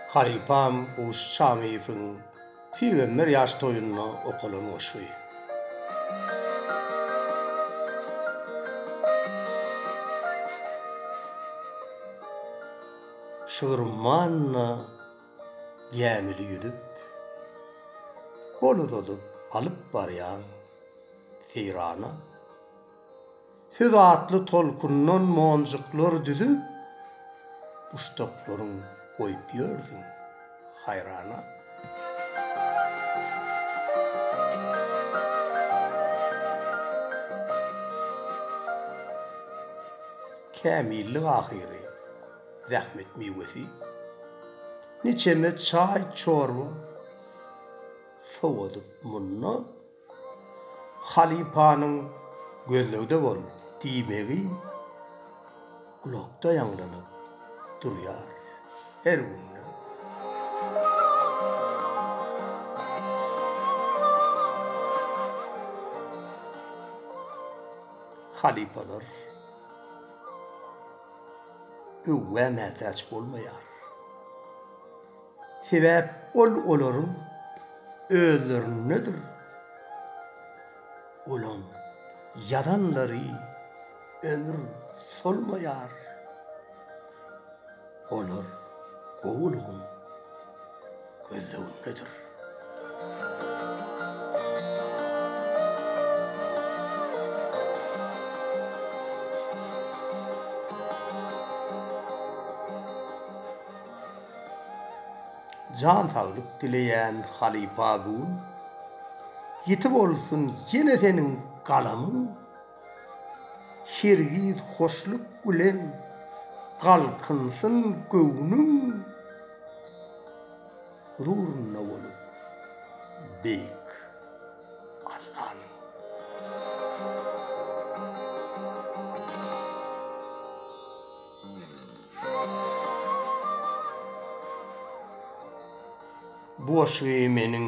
Halypam Guş Çamyýewiň Pygamber ýaş toýunda okalan goşgy. Şygrumman-da Gämili ýüzüp, gol uzadyp alyp barýan seýrana, söz atly tolkundan monjuklar düzüp, buşdaklaryň goýup ýörsüň haýrana. Kämillik ahyry. zähmet miwesi, niçeme çaý-çorba sowadyp munda halypanyň gözlegde bol diýmegi gulakda ýaňlanyp durýar her günde. Halypalar. öwgä mätäç bolmaýar. Sebäp ol olaryň özlerindedir. Olam ýazanlary ömür solmaýar. Olar gowulygyň. gözlegindedir. Jan saglyk dileýän halypa gün ýiti bolsun ýene seniň galamyň. Hergiz hoşluk bilen galkynsyn göwnüň Huzurynda bolup beýik Allanyň. Boş geýmenin